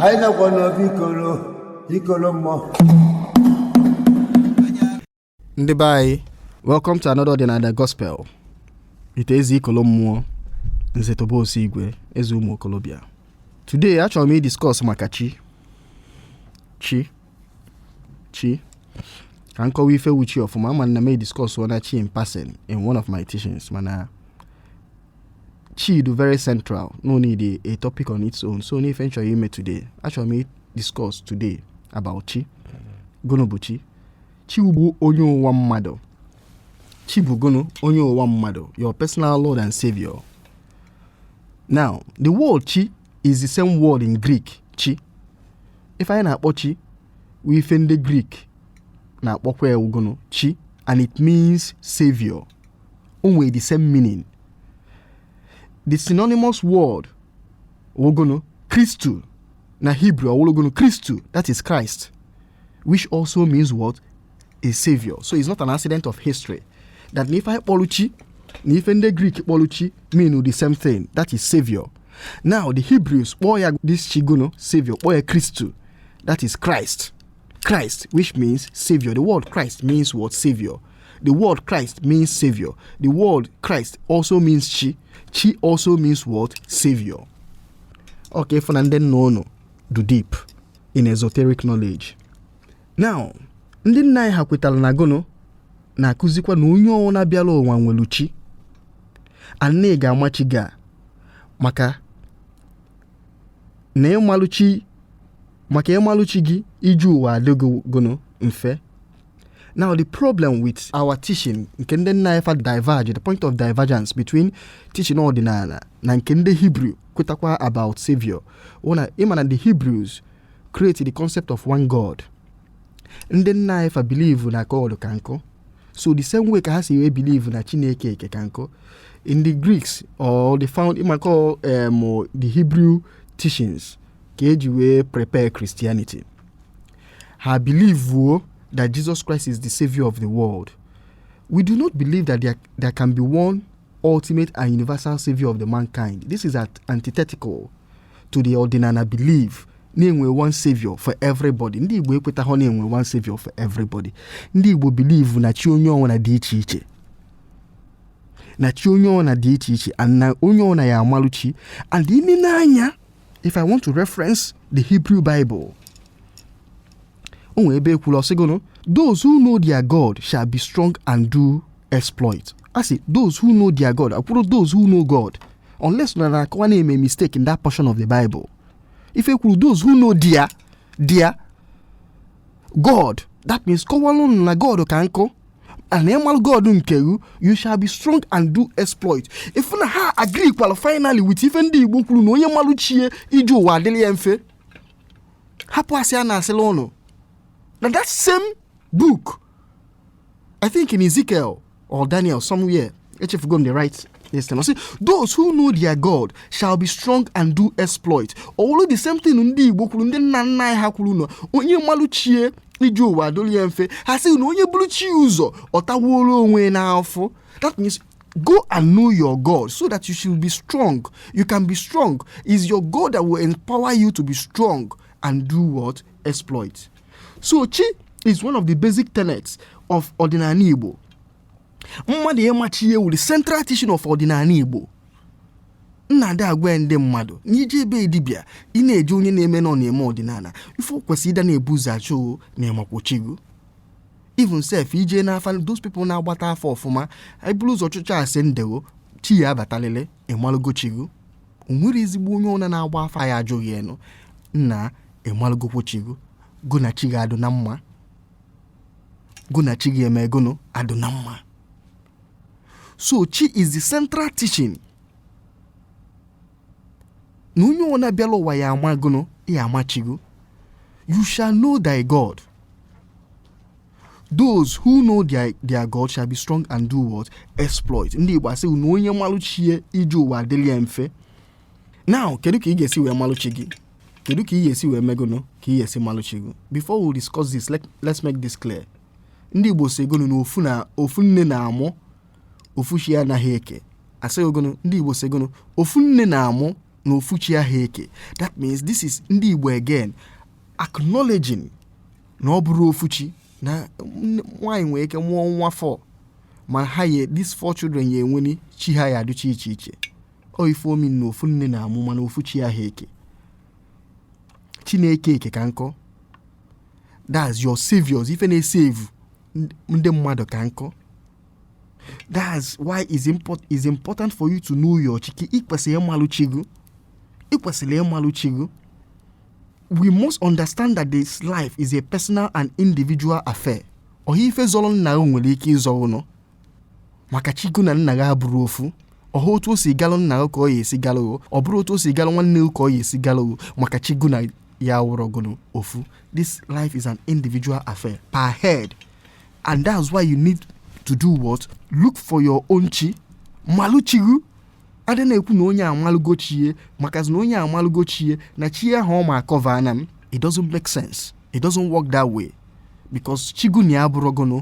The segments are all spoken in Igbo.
anyị nọkwa n'obi ikoro ikoro mmụọ ndị be anyị welcome to another ọdịnala gospel it is ikolo mmụọ nze Tobe Osigwe eze ụmụ okolobịa today achọrọ m idiscuss maka chi chi chi ka m kọwa ife wụ chi ọfụma ama m na m ediskọs na chi in passing in one of my teachings mana chi dụ very central n'ọ need a, a topic on its own so n'ife m chọrọ ime today achọrọ m discuss today about chi gụnụ bụ chi chi bụ onye ụwa mmadụ chi bụ gụnụ onye ụwa mmadụ your personal lord and savior now the word chi is the same word in Greek chi ife anyị na-akpọ chi wụ ife ndị Greek na-akpọkwa ya gụnụ chi and it means savior o nwere the same meaning the synonymous word wụ gụnụ kristu na Hebrew ọ wụlụ gụnụ kristu that is Christ which also means what a savior so it's not an accident of history that na ife anyị kpọrọ chi na ife ndị grik kpọrọ chi mean the same thing that is savior now the hebrews kpọọ ya this chi gụnụ savior kpọọ ya kristu that is christ christ which means savior the word christ means what savior the word christ means savior the word christ also means chi chi also means what savior okay fụ na ndị nna unu dụ deep in esoteric knowledge now ndị nna anyị ha kwetara na gụnụ na-akụzikwa na onye ọwụna bịara ụwa nwere chi and ị ga-ama chi gị maka na ị malụ chi maka ị malụ chi gị ije ụwa adị gị gụnụ mfe Now the problem with our teaching nke ndị nna anyị fa diverge the point of divergence between teaching ọdịnala na nke ndị Hebrew kwetakwa about savior na ịma na the Hebrews create the concept of one God ndị nna anyị fa believe na God ka nkụ so the same way ka ha si wee believe na Chineke eke ka nkụ in the Greeks or the found ịmakọ um, the Hebrew teachings ka eji wee prepare Christianity ha bilivuo that Jesus Christ is the savior of the world we do not believe that there, there can be one ultimate and universal savior of the mankind this is at antithetical to the ọdịnala belief na e nwe one savior for everybody ndị igbo ekwetaghọ na e nwe one savior for everybody ndị igbo bilivu na chi onye ọwụna dị iche iche na chi onye ọwụna dị iche iche and na onye ọwụna ya-amalụ chi and ime n'anya if i want to reference the hebrew bible o nwere ebe e kwuru ọ sị gụnụ those who know their god shall be strong and do exploit a sị those who know their god ekwurọ those who know god unless na na-akọwa na-eme mistake in that portion of the bible if e kwuru those who know their their god that means kọwalụ na god ka nkọ and ịmalụ god nke gị you shall be strong and do exploit ị fụ na ha agree kwala finally with ife ndị igbo kwuru na onye malụ chi ya ije ụwa adịrị ya mfe hapụ asị a na-asịlụ unu na that same book i think in ezekiel or daniel somewhere echefugo m the right Yes, time. Sị, those who know their God shall be strong and do exploit. Ọ bụ the same thing ndị Igbo kwuru ndị nna nna anyị ha kwuru na onye malụ chi ya ije ụwa adịlị ya mfe ha sị na onye buru chi ụzọ ọ tawuola onwe n'afụfụ that means go and know your God so that you should be strong. You can be strong. Is your God that will empower you to be strong and do what? Exploit. So chi is one of the basic tenets of ọdịnanị Igbo. mmadụ ịma chi ya wụrị central teaching of ọdịnala Igbo m na-adị agwa ndị mmadụ na ị je be dibịa ị na-eje onye na-eme nọ na-eme ọdịnala ife kwesịrị ịda na-ebu ụzọ ajụ na ị makwọ chi gị even sef ị je n'afa those people na-agbata afa ọfụma e buru ụzọ chụcha asị ndewo chi ya abatalịlị ị malụgo chi gị o nwerọ ezigbo onye ọwụna na-agba afa ya ajụghị enu nna ị malụgokwọ chi gị gị na chi gị adụ na mma Gị na chi gị emee gụnụ adụ na mma so chi is the central teaching na onye ọwụna bịala ụwa ya ama gụnụ ya ama chi gị you shall know thy god those who know their, their god shall be strong and do what exploit ndị igbo asị na onye malụ chi ya ije ụwa adịrị ya mfe now kedu ka ị ga-esi wee malụ chi gị kedu ka ị ga-esi wee mee gụnụ ka ị ga-esi malụ chi gị before we discuss this let, let's make this clear ndị igbo sị gụnụ na ofu na ofu nne na-amụ ofu chi anaghị eke a sị gụnụ ndị igbo sị gụnụ ofu nne na-amụ na ofu chi aha eke that means this is ndị igbo again acknowledging na ọ bụrọ ofu chi na nwaanyị nwere ike mụọ nwa four ma ha ye these four children ya-enweri chi ha ya-adịcha iche iche ọ ife ọ mean na ofu nne na-amụ mana ofu chi aha eke chi na-eke eke ka nkọ that's your saviors ife na-esevu ndị mmadụ ka nkọ that's why it's, import, it's important for you to know your chi ị kwesịrị ịmalụ chi gị ị kwesịrị ịmalụ chi gị we must understand that this life is a personal and individual affair ọha ife zọrọ nna gị nwere ike ịzọ ụnụ maka chi gụ na nna gị abụrọ ofu ọ họ otu o si galụ nna gị ka ọ ya esi galụ gị ọ bụrọ otu o si galụ nwanne gị ka ọ ya esi galụ gị maka chi gụ na ya awụrọ gụnụ ofu this life is an individual affair per head and that's why you need to do what look for your own chi malụ chi gụ adị na-ekwu na onye amalụgo chi e maka na onye amalụgo chi e na chi e ahụ ọ ma akọva ana m it doesn't make sense it doesn't work that way because chi unu abụrọ gụnụ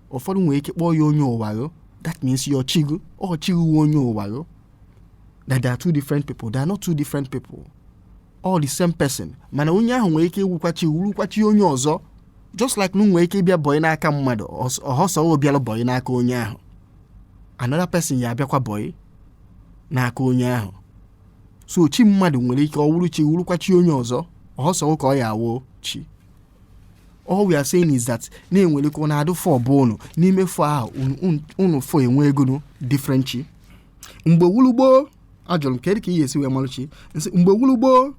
ụfọdụ nwere ike kpọọ ya onye ụwa gụ that means your chi gụ ọ chi gụ wụ onye ụwa gụ that they are two different people they are not two different people all the same person mana onye ahụ nwere ike ịwụkwa chi wụrụkwa chi onye ọzọ just like na nwere ike ịbịa bọyị n'aka mmadụ ọs- ọ họ sọ ọ bịara bọyị n'aka onye ahụ another person ya abịakwa bọyị n'aka onye ahụ so chi mmadụ nwere ike ọ wụrụ chi wụrụkwa chi onye ọzọ ọ họ sọ ka ọ ya awụ chi all we are saying is that na e nwere ka ọ na-adụ four bụ unu n'ime four ahụ unu- unu- unu four enwee gụnụ different chi mgbe wụlụ gboo a jụrụ m kedu ka ị ga-esi wee malụ chi m sị mgbe wụlụ gboo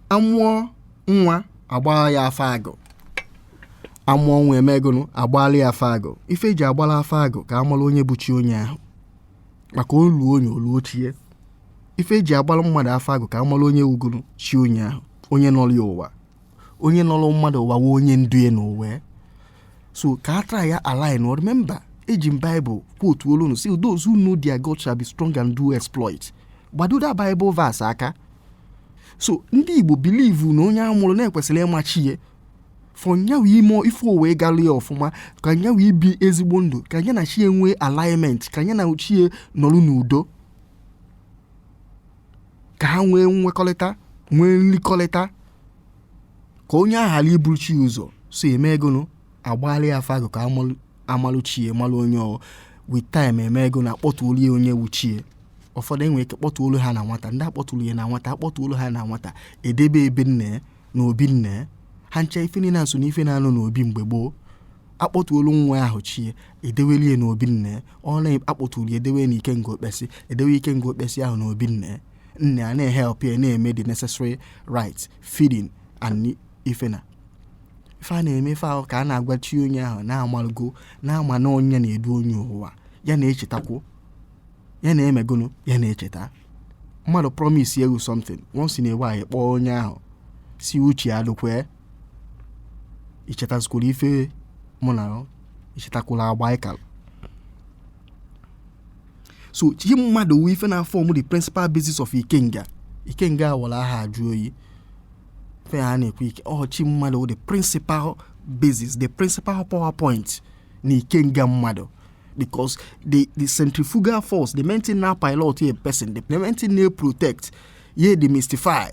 a mụọ nwa a gbaa ya afa agụ a mụọ nwa e mee gụnụ a gbaala ya afa agụ ife e ji agbala afa agụ ka a mala onye bụ chi onye ahụ maka olu onye wụlụ chi e ife e ji agbara mmadụ afa agụ ka a mara onye wụgoro chi onye ahụ onye nọrọ ya ụwa onye nọrọ mmadụ ụwa wụ onye ndu ya n'ụwa so ka a try align remember eji m Bible quote only those who know their God shall be strong and do exploit gbado that Bible verse aka so ndị Igbo believe na onye a mụrụ na e kwesịrị ịma chi ya for ya nwụ ime ife o wee gara ya ọfụma ka ya nwụ ibi ezigbo ndụ ka ya na chi e nwee alignment ka ya na chi e nọrọ n'udo ka ha nwee nwekọrịta nwee nrikọrịta ka onye ahụ ghara iburu chi ụzọ so e mee gụnụ a gbara ya afa agụ ka a malụ- a malụ chi e malụ onye ọ with time e mee gụnụ a kpọtuolu ya onye wụ chi e ụfọdụ e nwere ike kpọtuolu ha na nwata ndị a kpọturu ya na nwata a kpọtuolu ha na nwata e debe be nna ya na obi nna ha ncha ife niile na-aso n'ife na-anọ n'obi mgbe gboo a kpọtuolu nwa ahụ chi e e dewelu e na obi nna e ọ na-akpọturu e dewe na ikenga okpesi e dewe ikenga okpesi ahụ na obi nna e nna e na-ehelp ya na-eme the necessary right feeding and ife na ife a na-eme ife ahụ ka a na-agwa chi onye ahụ na a malụgo na-ama na onye na-edu onye ụwa ya na-echetakwu ya na-eme gụnụ ya na-echeta mmadụ promise you something once in a while kpọọ onye ahụ sị uche ya dụkwa i chetazikwuru ife mụ na i chetakwuru agba ị kalụ so chi mmadụ wụ ife na-aform the principal basis of ikenga ikenga a wara aha ajụ oyi fe ha na-ekwu ike ọ chi mmadụ wụ the principal basis the principal power point na ikenga mmadụ because the the centrifugal force the main thing na pilot a person the main thing na protect ye demystify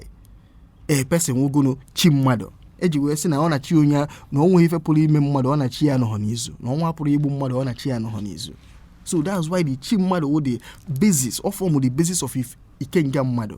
a person wụgodu chi mmadụ e ji wee sị na ọ na chi onye a na ọ nweghị ife pụrụ ime mmadụ ọ na chi ya anọhọ n'izu na ọnwụ apụhọ igbu mmadụ ọ na chi ya anọhọ n'izu so that's why the chi mmadụ wụ the basis ọ form the basis of if ikenga mmadụ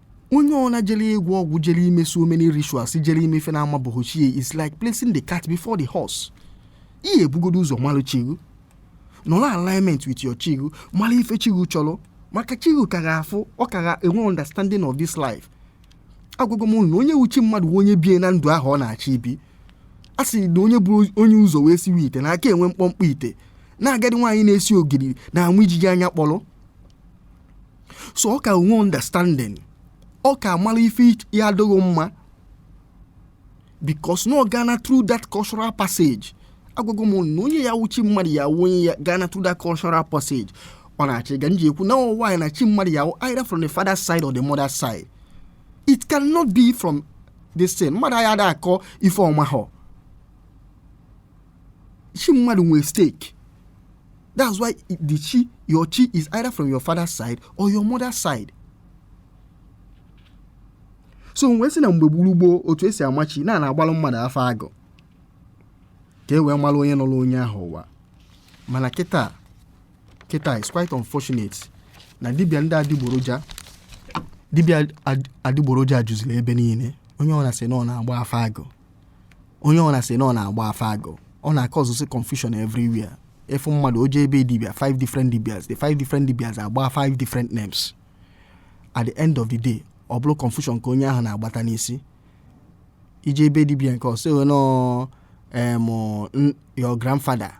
onye ọwụla jere ịgwọ ọgwụ jere ime so many rituals jere ime ife na-amabehọ chi ya is like placing the cart before the horse ị ya-ebugodu ụzọ malụ chi gị nọrọ alignment with your chi gị mara ife chi gị chọrọ maka chi gị ka gị afụ ọ ka gị enwe understanding of this life agwago m na onye wụ chi mmadụ onye biena ndụ ahụ ọ na-achọ ibi a sị na onye bu onye ụzọ wee siwe ite na-aka enwe mkpọmkpọ ite na agadi nwaanyị na-esi ogiri na-ama ijiji anya kpọrọ so ọ ka enwe understanding ọ ka amara ife ya-adị gị mma because na ọ gaana through that cultural passage agwago m na onye ya-awụ chi mmadụ ya-awụ onye gaana through that cultural passage ọ na-achị ga m ji ekwu na nwaanyị na chi mmadụ ya-awụ either from the father side or the mother side it cannot be from the same mmadụ anya ada akọ ife ọ mahọ chi mmadụ nwee stake That's why the chi, your chi is either from your father's side or your mother's side. so e wee sị na mgbe gboo gboo otu e si ama chi na a na-agbalụ mmadụ afa agụ ka e wee mara onye nọrọ onye ahụ ụwa mana kịta kịta is quite unfortunate na dibịa ndị adịgboroja dibịa ad- adịgboroja juziri ebe niile onye ọwụna asị na ọ na-agba afa agụ onye ọwụna asị na ọ na-agba afa agụ ọ na-acausezi confusion everywhere ị fụ mmadụ o je be dibịa five different dibias the five different dibias agba five different names at the end of the day ọ bụrụ confusion ka onye ahụ na-agbata n'isi i je be dibịa nke a ọ sị na ọ em your grandfather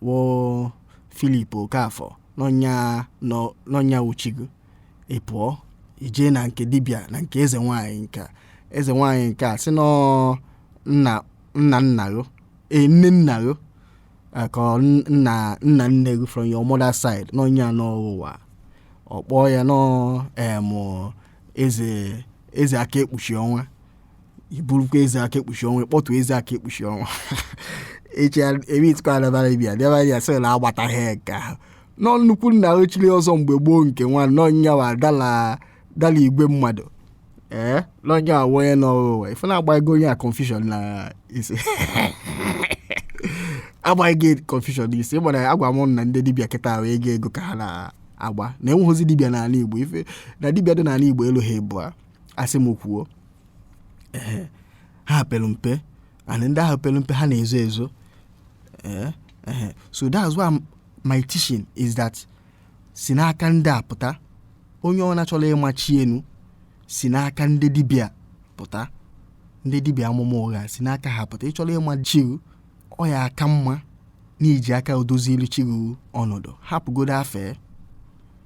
wụ Philip Okafor na ọ nya na ọ nya wụ chi gị ị pụọ i jee na nke dibịa na nke eze nwaanyị nke a. eze nwaanyị nke a asị na ọ nna nna nna gị ee nne nna gị eh, ka ọ n- nna nna nne gị from your mother side na ọ nya nọ gị ụwa ọ kpọọ ya na ọ em eze eze aka ekpuchi ọnwa iburukwa eze aka ekpuchi ọnwa ịkpọtụ eze aka ekpuchi ọnwa echi ebitikwa adabara ibi adabara ya sị na agbataghị nke ahụ na ọ nnukwu nna chiri ọzọ mgbe gboo nke nwa nọnya wa dala dala igwe mmadụ ee na onye a wụ onye nọ ụwa ife na-agba ego onye a confusion na isi agbaghị gị confusion na isi ịgbara agwa m na ndị dibịa kịta ahụ ego ego ka ha na-agba na enweghịzi dibịa n'ala igbo ife na dibịa dị n'ala igbo eluha ebụa asị m kwuo ee ha pere mpe and ndị ahụ pere mpe ha na-ezo ezo ee ee so that's why m- my teaching is that si n'aka ndị a pụta onye ọ na-achọla ịma chi ye nụ si n'aka ndị dibịa pụta ndị dibịa amụma ụgha si n'aka ha pụta ị chọrọ ịma chi rụ ọ ya aka mma na i ji aka ọ dozilu chi rụ ọnọdụ hapụgodo afa ye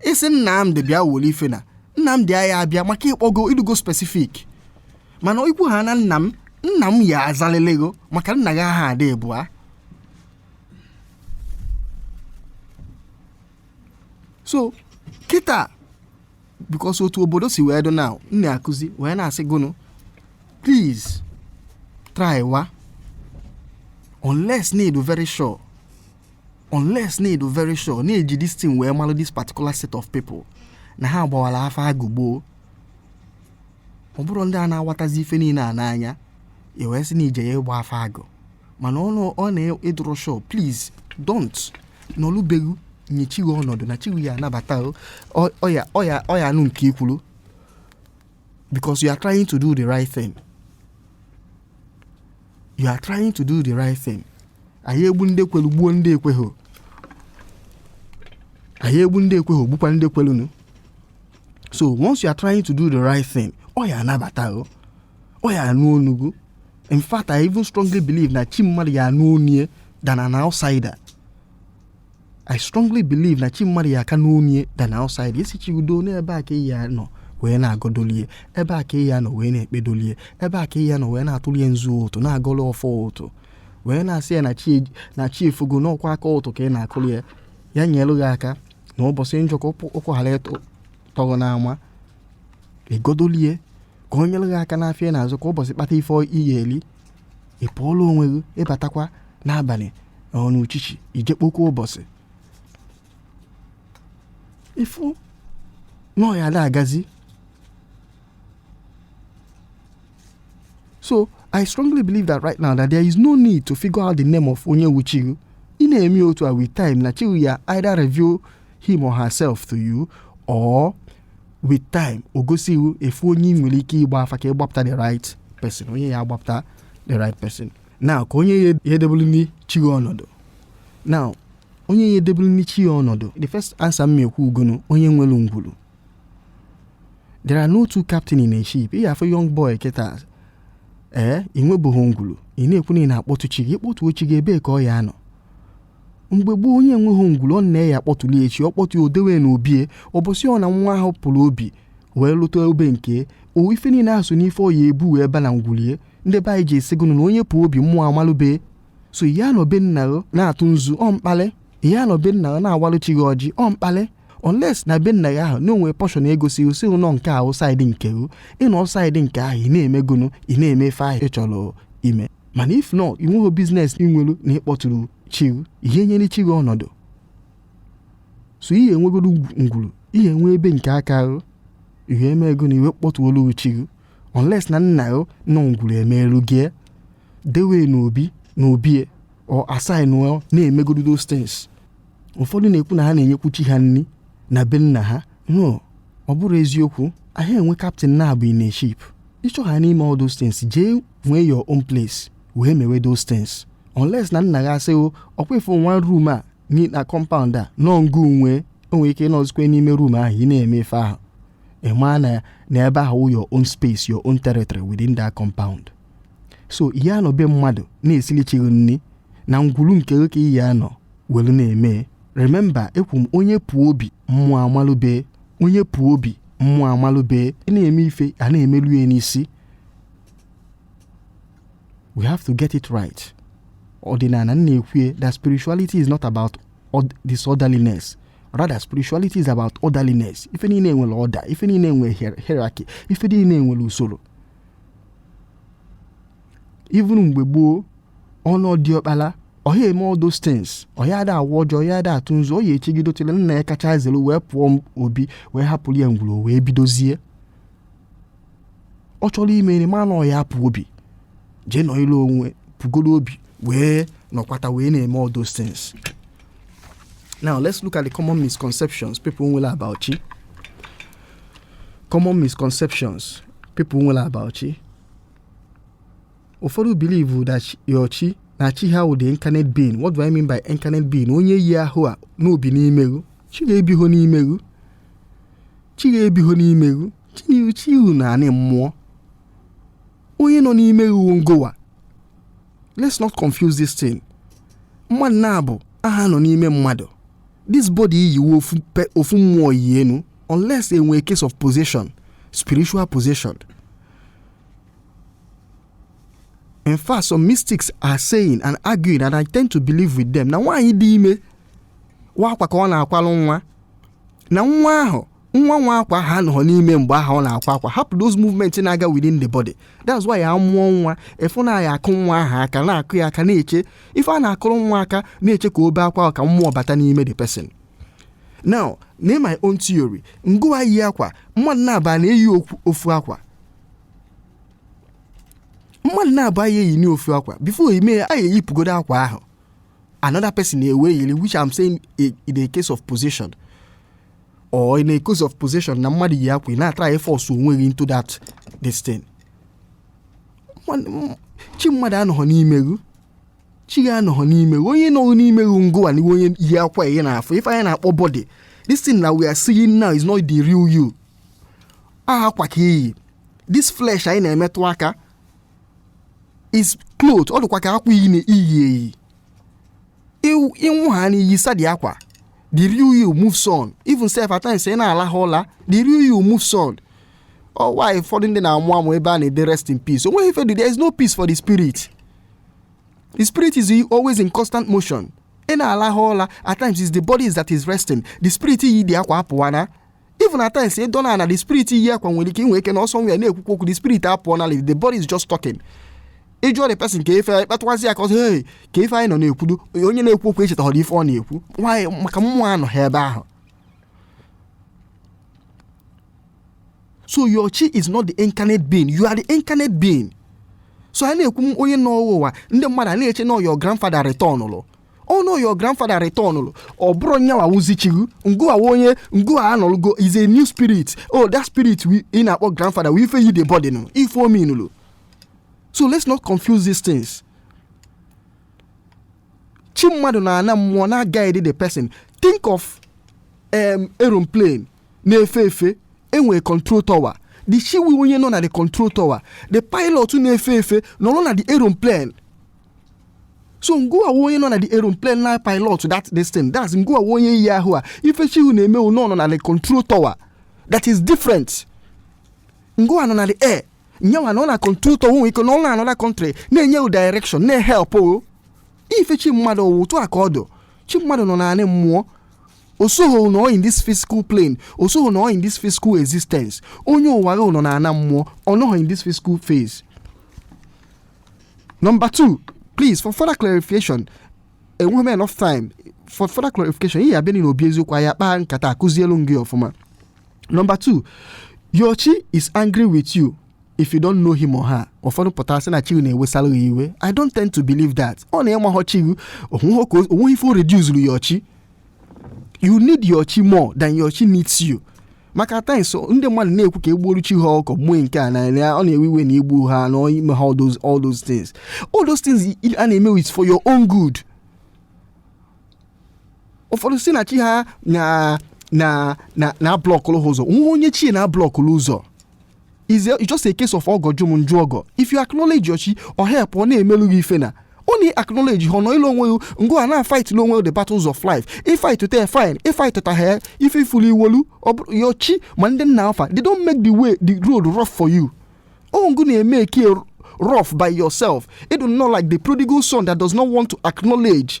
ị sị nnamdị bịa were ife na nnamdị ya abịa maka ị kpọgo ị dụgo specific mana i kwuha na nna m nna m ya azalelego maka nna gị ha ada abụa so kịta because otu obodo si wee dị na m na-akụzi wee na-asị gụ nụ please try wa unless na ị dụ very sure unless na ị dụ very sure na-eji this thing wee malụ this particular set of people na ha gbawara afa agụ gboo ọ bụrụ ndị a na-awatazi ife niile a n'anya i wee sị na ije ya ịgba afa agụ mana ọ bụrụ na ị dụrọ sure please don't nọlụ be ghị nye chi ghị ọnọdụ na chi ghị ya anabata ọ ya ọ ya ọ ya anụ nke i kwuru because you are trying to do the right thing you are trying to do the right thing a ya egbu ndị kwelu gbuo ndị ekweghị a ya egbu ndị ekweghị gbukwa ndị kwelu nụ so once you are trying to do the right thing ọ ya anabata o ọ ya anụ ọnụ gụ in fact i even strongly believe na chi mmadụ ya anụ ọnụ ye than an outsider I strongly believe na chi mmadụ ya aka anụ ọnụ ye than outside esi chi udo n'ebe a ka ị ya nọ wee na-agọdolie ebe a ka ị ya nọ wee na-ekpedolie ebe a ka ị ya nọ wee na-atụlie nzu ụtụ na-agọrọ ọfọ ụtụ wee na-asị ya na chi na chi efogo na ọ kwa aka ụtụ ka ị na-akụrụ ya ya nyere gị aka na ụbọchị njọ ka ụkwụ ụkwụ ghara ịtọ- tọrọ n'ama ị gọdolie ka o nyere gị aka n'afịa ị na-azụ ka ụbọchị kpata ife ị ya eri ị pụọla onwe gị ị batakwa n'abalị ọ n'uchichi i je kpọkwa ụbọchị ị fụ na ọ ya ada agazi so i strongly believe that right now that there is no need to figure out the name of onye wu chi rụ ị na-eme otu a with time na chi rụ ya either reveal him or herself to you or with time o gosi gị ife onye ị nwere ike ịgba afa ka ị gbapụta the right person onye ya agbapụta the right person na ka onye ya edebelu ndị chi gị ọnọdụ na onye ya edebelu ndị chi ya ọnọdụ the first answer m ekwugonu onye nwere ngwuru there are no two captain in a ship ị afụ young boy kịta ee ị nwebeghị ngwuru ị na-ekwu na ị na-akpọtụ chi gị ị kpọtụọ chi gị ebee ka ọ ya anọ mgbe gboo onye enweghị ngwuru ọ nna ya akpọtụli e chi ọ kpọtụ ya o dewe n'obi e ụbọchị ọ na nwa ahụ pụrụ obi wee lụta obi nke e ife niile ahụ so n'ife ọ ya ebu wee ba na ngwulu e ndị be anyị ji esigonu na onye pụọ obi mmụọ amalụ be e so ị ya anọ be nna na-atụ nzu ọ mkpalị ị ya anọ be nna na-awalụ chi gị ọjị ọ mkpalị unless na be nna gị ahụ na o nwere portion e gosiri sị gị nọ nke ahụ side nke ị nọ side nke ahụ ị na-emegonu ị na-eme ife ahụ ị chọrọ ime mana if not ị nweghị business ị nwere na ịkpọtụrụ chi ị ya enyere chi gị ọnọdụ so ị ya enwegoro ngwuru ị ya enwe be nke aka gị ị ya emegonu e wee kpọtụọlụ chi gị unless na nna gị nọ ngwuru emeelu gị dewe n'obi n'obi ọ assign na-emegoro those things ụfọdụ na-ekwu na ha na-enyekwu chi ha nri na be nna ha no ọ bụrọ eziokwu anaghị enwe captain naabọ in a ship ị chọgha ime all those things jee nwee your own place wee mewe those things unless na nna gị asị gị ọkwa ị fụna room a nye na compound a na ọ ngị nwe e i nwere ike ịnọzikwe n'ime room ahụ ị na-eme ife ahụ ị maa na na ebe ahụ wụ your own space your own territory within that compound so ị ya anọ be mmadụ na-esili chi gị nri na ngwuru nke gị ka ị ya anọ welu na-eme remember ekwu m onye pụọ obi mmụọ amalụ be e onye pụọ obi mmụọ amalụ be e ị na-eme ife a na-emelu ya n'isi we have to get it right ọdịnala na-ekwu that spirituality is not about disorderliness rather spirituality is about orderliness ife niile nwere order ife niile nwere hierarchy ife niile nwere usoro even mgbe gboo ọnụ diọkpala ọ ha eme all those things ọ ya ada awa ọjị ọ ya ada atụ nzu ọ ya echegidotele nna ya kacha zere wee pụọ obi wee hapụrụ ya ngwuru wee bidozie ọ chọrọ ime nri mana ọ ya apụ obi jee n'ilo wee pụgoro obi wee nọkwata wee na-eme all those things now let's look at the common misconceptions people nwere about chi common misconceptions people nwere about chi ụfọdụ believe that chi- your chi na chi ha wụ the incarnate being what do i mean by incarnate being onye yi ahụ a na o bi n'ime ghụ chi ghụ ebiho n'ime ghụ chi ghụ ebiho n'ime ghụ chi unu anị mmụọ onye nọ n'ime yi wụ ngụwa let's not confuse this thing mmadụ naabọ aha anọ n'ime mmadụ this body i yi wụ ofu mmụọ yi enu unless e nwee case of possession spiritual possession in fact some mystics are saying and arguing and i tend to believe with them na nwaanyị dị ime wụ akwa ka ọ na-akwalụ nwa na nwa ahụ nwa nwe akwa aha anọ n'ime mgbe ahụ ọ na-akwa akwa ahụ those movement na-aga within the body that's why ya mụọ nwa ị fụ na ya akụ nwa ahụ aka na-akụ ya aka na-eche ife a na-akụrụ nwa aka na-eche ka o bee akwa ka mmụọ bata n'ime the person now na my own theory ngụwa yi akwa mmadụ naabọ ana eyi okwu- ofu akwa mmadụ naabọ aya eyi n'ofu akwa before ime ya a eyipụgodo akwa ahụ another person ewee yiri which I'm saying i- in a case of possession or in a case of possession na mmadụ yi akwa ị na-atry force onwe gị into that this thing Nwa- m- chi mmadụ anọghọ n'ime gị chi gị anọghọ n'ime gị onye nọ n'ime gị wụ ngụwa na onye yi akwa ihe ị na-afụ ife anyị na-akpọ body this thing na we are seeing now is not the real you aha akwa ka i yi this flesh anyị na-emetụ aka is cloth ọ dịkwa ka akwa i yi na i yi eyi ị nwụha na i yisa the akwa the real you moves on even sef at times ị na-alaha ụla the real you moves on ọwa oh, ụfọdụ ndị na-amụ amụ ebe a na-ede rest in peace o nweghị ife there is no peace for the spirit the spirit is always in constant motion ị na-alaha ụla at times is the body that is resting the spirit yi the akwa apụwana even at times ị dọna na the spirit yi akwa nwere ike inwe ike na ọsọ nwa ya na-ekwukwu okwu the spirit apụọ na the body is just talking ị jụọ the person kee ife kpatụwazi ya aka ọ sị hey kee ife anyị nọ na-ekwudo onye na-ekwu okwu echetaghọrọ ife ọ na-ekwu nwaanyị maka mmụọ anọhọ ebe ahụ so your chi is not the incarnate being you are the incarnate being so a na-ekwu onye nọ ụwa ndị mmadụ a na-eche na your grandfather returnlụ oh no your grandfather returnụrụ ọ bụrụ nyawa wụzi chi gị ngụwa wụ onye ngụwa anọlụgo is a new spirit oh that spirit ị na-akpọ grandfather wụ ife yi the body nụ ife ominụlụ so let's not confuse these things chi mmadụ na-anọ na mmụọ na guide the person think of um, aeroplane na-efe efe e nwere control tower the chi wụ onye nọ na the control tower the pilot na-efe efe nọrọ na the aeroplane so ngụwa wụ onye nọ na the aeroplane na pilot that this thing that's ngụwa onye yi ahụ a ife chi ụ na-eme nọ na the control tower that is different ngụwa nọ na the air yewa nọ na control tower nwere ike nọ na another country na-enye ụ direction na-ehelp ụ ife chi mmadụ ọ wụ otu a ka ọ dụ chi mmadụ nọ na ana mmụọ osoghị nọ in this physical plane osoghị nọ in this physical existence onye ụwa gị nọ na ana mmụọ ọ nọghị in this physical phase Number two, please, for further clarification, enweghọ m enough time for further clarification ị ya-abịa na obi eziokwu anyị akpaa nkata akuzielu m gị ọfụma number two your chi is angry with you if you don't know him or her ụfọdụ pụta sị na chi na-ewesara gị iwe i don't tend to believe that ọ na ị maghọ chi gị o nweghị ife o reduzuru your chi you need your chi more than your chi needs you maka at times ndị mmadụ na-ekwu ka e gbuoru chi ha ọkụkọ gbuo nke a na ọ na-ewe iwe na i gbuhọ na i mehọ all those all those things all those things i- a na-eme wụ for your own good ụfọdụ sị na chi ha na na na na-ablọkụlụ ha ụzọ o nwehọ onye chi e na-ablọkụlụ ụzọ is a, it's just a case of ọgọ jụ m m jụ ọgọ if you acknowledge your chi ọ help ọ na-emelu gị ife na ọ na ị acknowledgehọ nọlụ onwe gị ngụwa na-afightili onwe the battles of life ị fightụta fine ị fightụtahọ ife ị fụlụ i wolu your chi ma ndị nna fa they don't make the way the road rough for you ọ ngụ na-emake ya rough by yourself ị dụ nnọọ like the prodigal son that does not want to acknowledge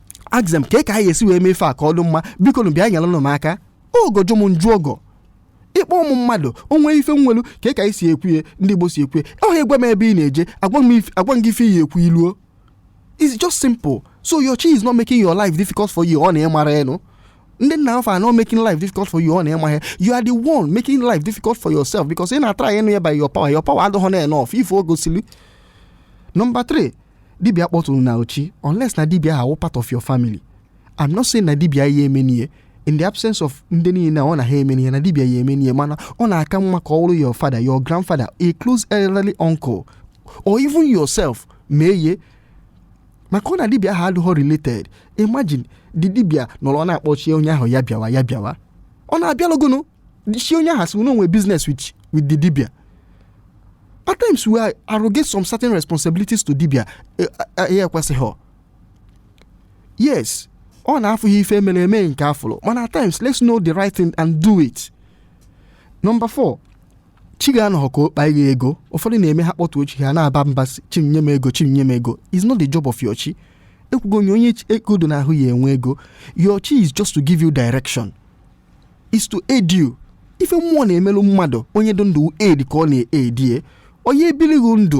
ask them kee ka anyị esi wee mee ife a ka ọ dị mma biko nụ bịa nyere nụ m aka ọgọ jụ m m jụ ọgọ ịkpọ ụmụ mmadụ o nwee ife e nwelu ka e ka anyị si ekwu ya ndị igbo si ekwu ya ọ ị gwa m ebe ị na-eje agwa m if- agwa m gị ife ị ya-ekwu i luo it's just simple so your chi is not making your life difficult for you ọ na ị marọ e no ndị nna fa are not making life difficult for you ọ na ị marọ ya you are the one making life difficult for yourself because ị na-atry ịnụ ya by your power your power adịghọ na enough ife o gosili number 3 dibia kpọtụrụna ụ chi unless na dibia ahụ wụ part of your family I'm not saying na dibia aya emenie in the absence of ndị niile na ọ na ha emenie na dibia ya-emenie mana ọ na-aka mma ka ọ your father your grandfather a close elderly uncle or even yourself mee ya maka ọ na dibia ahụ adịghọ related imagine the dibia nọrọ na-akpọ chi onye ahụ ya bịawa ya bịawa ọ na-abịalụ gụnụ chi onye ahụ si unu nwee business with with the dibia at times we arrogate some certain responsibilities to dibia eh, eh, eh, ya ekwesịghị yes ọ na afụhọ ife e mere e mee nke a fụrụ mana at times let's know the right thing and do it number four chi gị anọghọ ka ọ kpaa gị ego ụfọdụ na-eme ha kpọtuo chi ha na-aba mba chi m nye m ego chi m nye m ego it's not the job of your chi ekwugo onye onye ego dị n'ahụ ya-enwe ego your chi is just to give you direction is to aid you ife mmụọ na-emelụ mmadụ onye dị ndụ aid ka ọ na-aid ya onye ebili gị ndụ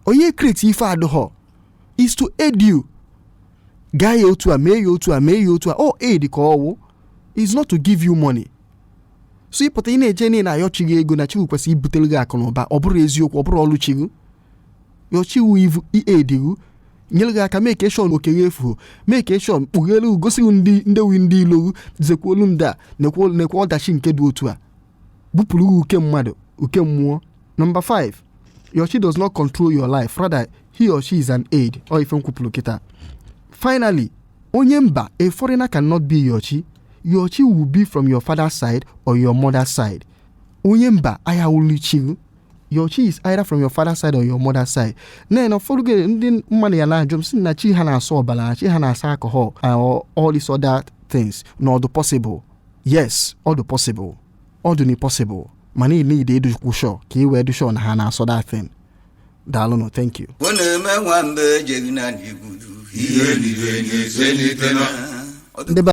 onye e-create ife adịghọ is to aid you gaa ya otu a mee ya otu a mee ya otu a ọ aid ka ọ wụ is not to give you money so ị pụta ị na-eje na-ayọ chi gị ego na chi gị kwesịrị ibutere gị akụ na ụba ọ bụrọ eziokwu ọ bụrọ ọlụ chi gị your chi wụ ivu ị-aid gị nyere gị aka mee ka eshọn okenye efu mee ka eshọn kpughere gosi ndị ndewi ndị ilo gị zekwuolu ndị a nekwe ọdachi nke dị otu a bupụrụ uke mmadụ uke mmụọ nọmba 5 your chi does not control your life rather he or she is an aid ọ ife m kwupụrụ kịta finally onye mba a foreigner cannot be your chi your chi will be from your father's side or your mother's side onye mba ayaghụlụ chi your chi is either from your father side or your mother side na na ụfọdụ oge ndị mmadụ ya na-ajụ m sị na chi ha na-asọ ọbara na chi ha na-asọ alcohol and all- all these other things na ọ dụ possible yes ọ dụ possible ọ dụnị possible mana ị need ịdụkwu sure ka ị wee dụ sure na ha na-asọ that thing daalụnụ thank you ọ na-eme nwamba ejeghị na n'igwuru ihe niile na-eselite na ndị be